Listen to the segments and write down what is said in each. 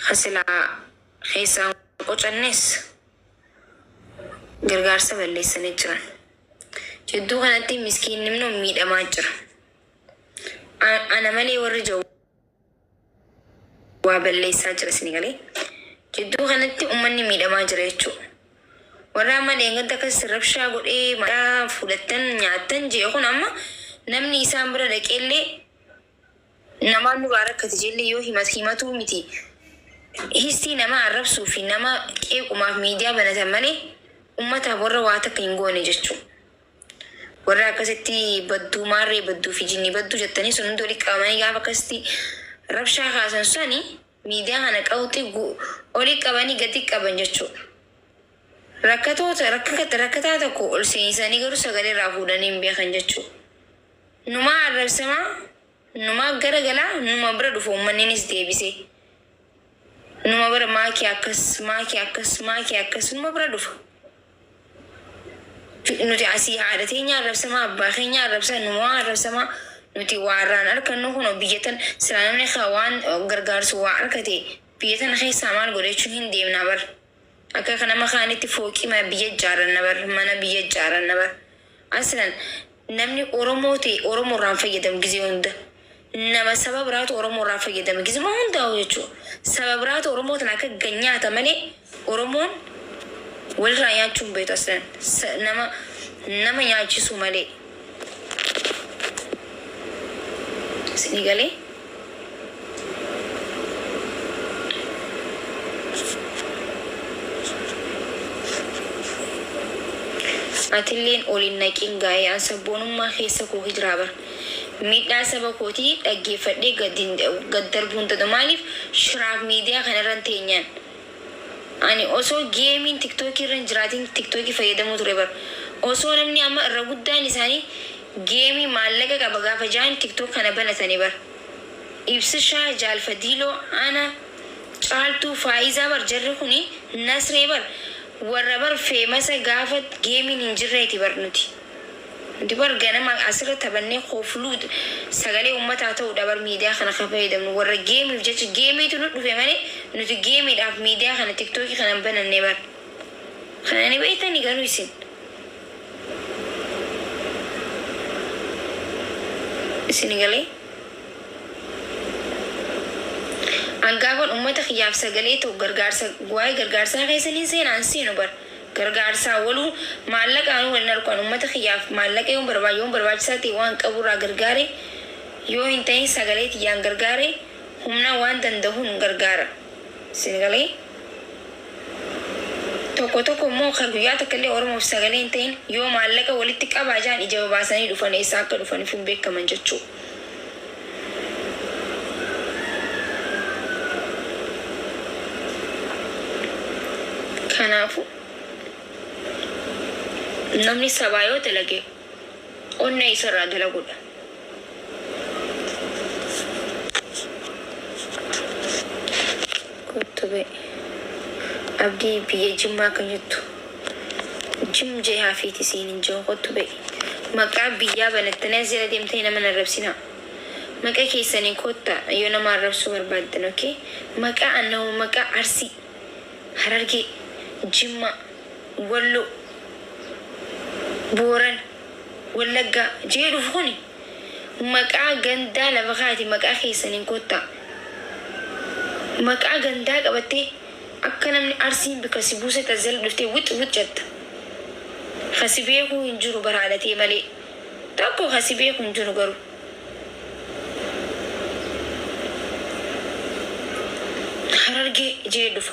Ka silaa keessaa hin qocannes gargaarsa balleessanii jiran. Jidduu kanatti miskiinni immoo miidhamaa jira. A- Ana malee warri jawu waa balleessaa jira isin galee. Jidduu kanatti uummanni miidhamaa jira jechuudha. Warra amma dheengadda akkas rabshaa godhee maqaa fudhattan nyaattan jee kun amma namni isaan bira dhaqeellee namaa nuraa rakkati jelle yoo himatu himatuu miti histii namaa arrabsuu fi nama qeequmaaf miidiyaa banatan malee ummataaf warra waa takka hin goone jechu warra akkasitti badduu maarree badduu fi jinni badduu jettanii sun hundi walitti qabamanii gaafa akkasitti rabshaa kaasan sani Miidiyaa kana qawxi gu oli qabani gadi qaban jechuu dha. Rakkatoota, rakkakata, rakkataa tokko ol seenisanii garuu sagalee irraa fuudhanii hin beekan jechuu dha. Numaa arrabsamaa, numaa gara galaa, numa bira dhufa uummanninis deebisee. Numa bira maa kee akkas, maa kee akkas, maa kee akkas numa bira dhufa. Nuti asii haadha teenya arrabsamaa, abbaa keenya arrabsaa, numaa arrabsamaa, nuti waa irraan arkannu kunoo biyya tan silaa namni ka waan gargaarsu waa arkate biyya tana keessaa maal godha jechuun hin deemna bar. Akka ka nama kaanitti fooqii mana biyya ijaaranna bar, mana biyya ijaaranna bar. Aslan Namni Oromoo ta'e Oromoo irraa hin fayyadamu gizee hunda. Nama saba biraatu Oromoo irraa fayyadama gizuma hundaa'uu jechuu. Saba biraatu Oromoo tana akka ggan nyaata malee Oromoon walirraa nyaachuu hin beektu aslan. Sa, nama, nama nyaachisuu malee. Isinii galee? Atilleen ol hin naqiin gaa'ee an sabboonummaa keessa koo hijraa bar miidhaa saba kootii dhaggeeffadhee gad hin gad darbuu hin danda'u maaliif shiraaf miidiyaa kana irran teenyaan ani osoo geemiin tiktookii irra hin jiraatiin tiktookii fayyadamuu ture bar osoo namni amma irra guddaan isaanii Game maallaqa qaba gaafa jaan tiktok kana banatani bar ibsishaa jaal fadiiloo ana caaltuu faayizaa bar jarri kuni nasree bar warra bar feemasa gaafa geemiin hin jirreeti bar nuti nuti bar ganama asirra taphannee kofluu sagalee ummataa ta'uudha bar miidiyaa kana ka fayyadamnu warra geemiif jecha geemiitu nu dhufe malee nuti geemiidhaaf miidiyaa kana tiktoki kana hin bananne bar kana ni beektani garuu isin. Isin galee? An gaafan ummata kiyyaaf sagalee ta'u gargaarsa waa'ee gargaarsaa keessa nin seenaa hin seenu bar gargaarsaa waluu maallaqaanuu wal hin arku an ummata kiyyaaf maallaqa yoon barbaade yoon barbaachisaa ta'e waan qabu irraa gargaare yoo hin ta'in sagalee tiyyaan gargaare humna waan danda'uun gargaara. Sin galee? Tokko tokko immoo kan guyyaa takka illee Oromoof sagalee hin tahin yoo maallaqa walitti qabaa jedhan ija babaasanii dhufan eessaa akka dhufanifuu hin beekkaman jechuu. Kanaafuu namni sabaa yoo dalage. Onnee isa irraa dalagu dha. Kottu bee. Abdii biyya jimmaa kan jettu jim jee hafiiti siin hin jiru kottu bee. Maqaa biyyaa banattanii as jala deemtanii nama hin arrabsinaa. Maqa keessanii kotta yoo nama arrabsuu barbaaddan ok. Maqaa annahoo maqaa arsii, harargee, jimmaa, Wallo, Boorana, Wallaggaa jeedhuuf kuni maqaa gandaa lafa kaayati maqaa keessaniin kottaa. Maqaa gandaa qabattee akka namni Arsiin bikka si buusetti as jala dhuftee wixxi wixxi jetta. Ka si beekuu hin jiru bar haadha tee malee. Tokko ka si beeku hin jiru garuu. Harargee jee dhufa.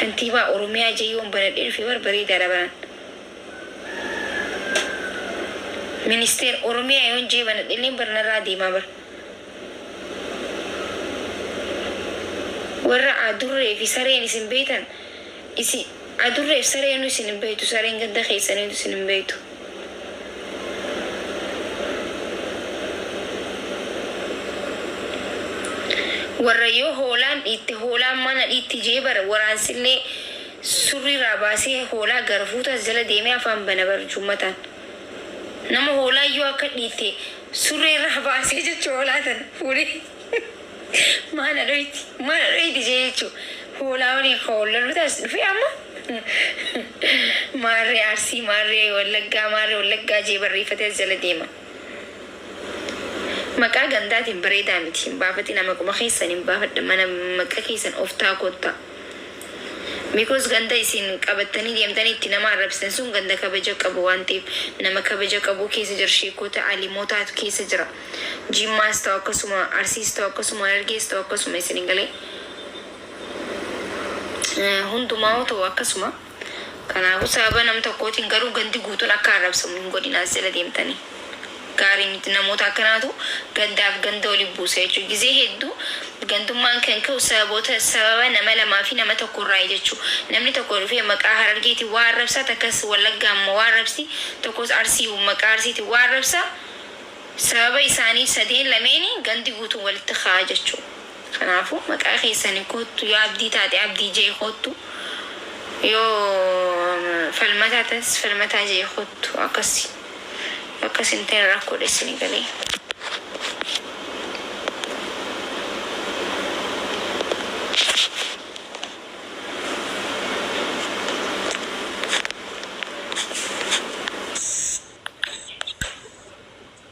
Kantiibaa Oromiyaa Jayyoon banadhee dhufe bar bareedaadha baraan. Ministeer Oromiyaa yoon J banadhelleen bar narraa deemaa bar. Warra Adurree fi Sareen isin beektan isin Adurree fi Sareenuu isin hin beektu sareen ganda keessaniitu isin hin beektu. Warra yoo hoolaan dhiitte hoolaan mana dhiitti je'e bar waraansillee surriirraa baasee hoolaa garafuutu as jala deemee afaan bana bar jummataan. Nama hoolaan yoo akka dhiitte surreerraa baasee jechu hoolaa tana fuudhee. Mana dhoyti mana dhoyti jeechu hoolaa wani akka wallallu taas dhufe amma maarree arsii maarree wallaggaa maarree wallaggaa jee barreeffatee as jala deema maqaa gandaatiin bareedaa miti hin baafatina maquma keessan hin baafadha mana maqa keessan oftaa kotta Because ganda isin qabattanii deemtanii itti nama arrabsitan sun ganda kabaja qabu waan ta'eef nama kabaja qabuu keessa jira sheekota alimotaatu keessa jira Jimmaas ta'u akkasuma, Arsiis ta'u akkasuma, Harargees ta'u akkasuma isin hin galee. Hundumaa'uu ta'u akkasuma. Kanaafuu sababa nam tokkootiin garuu gandi guutuun akka arrabsamu hin godhinaa as jala deemtanii. Gaarii miti namoota akkanaatu gandaaf ganda wali buusa jechuudha. Gizee hedduu gandummaan kan ka'u sababoota sababa nama lamaa fi nama tokko irraayi jechuu. Namni tokko dhufee maqaa Harargeetiin waa arrabsa, takkas Wallaggaan waa arrabsti, tokkos Arsii maqaa Arsiitiin waa arrabsa. Sababa isaanii sadeen lameeni gandi guutuun walitti ka'a jechuu. Kanaafuu maqaa keessaniin koottu yoo Abdii taate Abdii J koottu yoo Falmataa taates Falmataa J koottu akkasi yoo akkas hin ta'in rakkoodha isinii galee.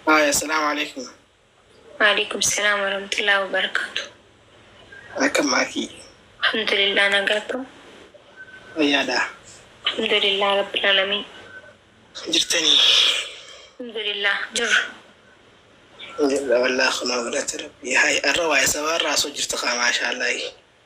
Haaya, salaamu alaikum. Waaleykum salaam warahmatullahi wabarakatuh. Akkam maakii? Alhamdulillah nagaa akkam? Fayyaadha. Alhamdulillah rabbil alamiin. Jirtanii? Alhamdulillah jirra. Jirra wallaa kunoo galata rabbii. Haaya, arra waa'ee sabaa irraa osoo jirtu kaa maashaallahi.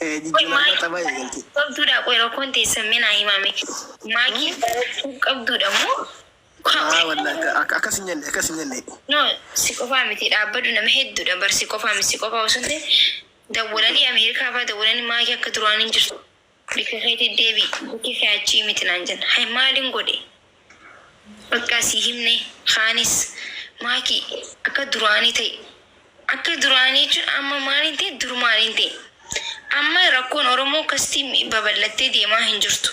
Jijjiiramna tapha eegalte. Qabduudhaa qoy rakkoon teessan mee naa himaa mee maakii argachuu qabduudha moo kaa Aa wallahi akka akka sin jenne akka sin jenne. No si qofaa miti dhaabbadhu nama hedduudha bar si qofaa miti si qofaa osoo hin ta'in dawwalanii Ameerikaa faa dawwalanii maakii akka duraan hin jirtu. Bikka keetii deebi'i. Bikki kee achii miti naan jenna. Hay maalin godhe? Baqqaa sii himne. Kaanis, Maaki, akka duraanii ta'i. Akka duraanii jechuun amma maalin ta'e durumaanin ta'e. Amma rakkoon Oromoo akkasitti babal'attee deemaa hin jirtu.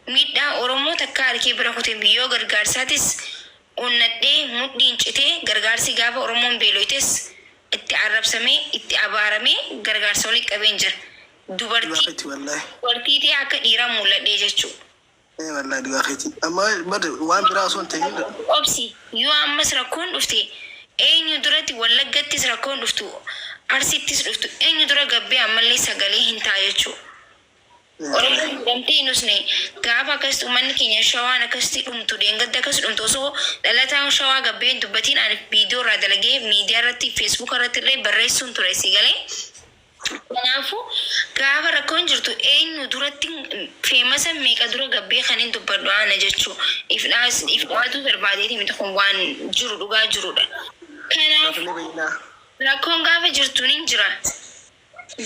Miidhaa Oromoo takkaa harkee bira kute miti. Yoo gargaarsaatis onnadhee mudhiin citee gargaarsi gaafa Oromoon beeloytes itti arrabsamee, itti abaaramee gargaarsa walitti qabeen jira. Dubartii dubartii tee akka dhiiraa mul'adhee jechuu. Ee wallahi dhugaa keeti amma bar waan biraa osoo hin ta'in Obsi obsi yoo ammas rakkoon dhufte eenyu duratti wallaggattis rakkoon dhuftu arsittis dhuftu eenyu dura gabbee ammallee sagalee hin ta'a jechuu oromoon miidhamtee hin usne gaafa akkasitti ummanni keenya shawaan akkasitti dhumtu deengadda akkas dhumtu osoo dhalataan shawaa gabbee hin dubbatiin ani viidiyoo irraa dalagee miidiyaa irratti feesbuuka irratti illee barreessuun ture si galee Kanaafuu gaafa rakkoon jirtu eenyu duratti feemasa meeqa dura gabbee kanin dubbadhu ana jechuu ifdhaas ifdhaatuu barbaadeeti miti kun waan jiru dhugaa jirudha. Kanaafuu rakkoon gaafa jirtu nin jira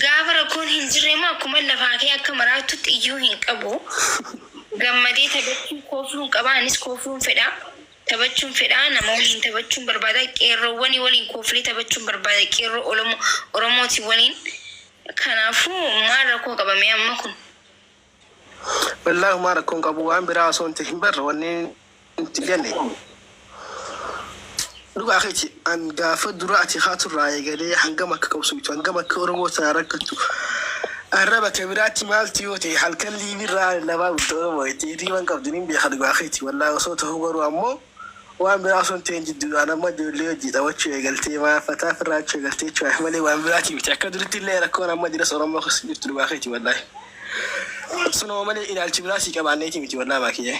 gaafa rakkoon hin jirre immoo akkuman lafaa ka'ee akka maraattutti iyyuu hin qabu gammadee taphachuu koofluun qaba anis koofluun fedha. Taphachuun fedhaa nama waliin taphachuun barbaada qeerroowwani waliin kooflee taphachuun barbaada qeerroo olomo oromooti waliin kanaafu maal rakkoo qaba mee amma kun. Wallahi humaa rakko hin qabu waan biraa osoo hin tahin bar wanni nuti jenne dhugaa keeti. An gaafa dura ati kaatu irraa eegalee hangam akka qabsooytu, hangam akka Oromoo irraa rakkattu arraba kee biraatti maaltu yoo ta'e halkan live irraa lallabaa bulta Oromoo jettee hirriiba hin qabdu nin beeka dhugaa keeti wallahi osoo tahuu garuu ammoo waan biraa osoo hin ta'in jidduudhaan amma ijoollee wajjii taphachuu eegaltee maal fataa firraachuu eegaltee jechuudhaaf malee waan biraatii miti akka duritti illee rakkoon amma jiras Oromoo keessa hin jirtu dhugaa keeti wallahi sunuma malee ilaalchi biraa sii qabaanneeti miti wallahi maakiyyee.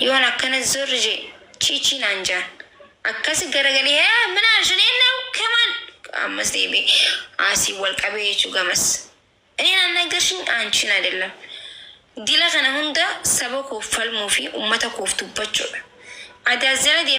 Yoon akkana zor je chiichii naan jaan. Akkasi garagalee hee min arshin innahu kemal ammas deebi'e aasii wal qabee jechuu gamas. Ineen annagarshiny aanchiin adellam. Dila kana hunda saba koof falmuu fi ummata koof dubbachuudha. Adaas jala deemtee.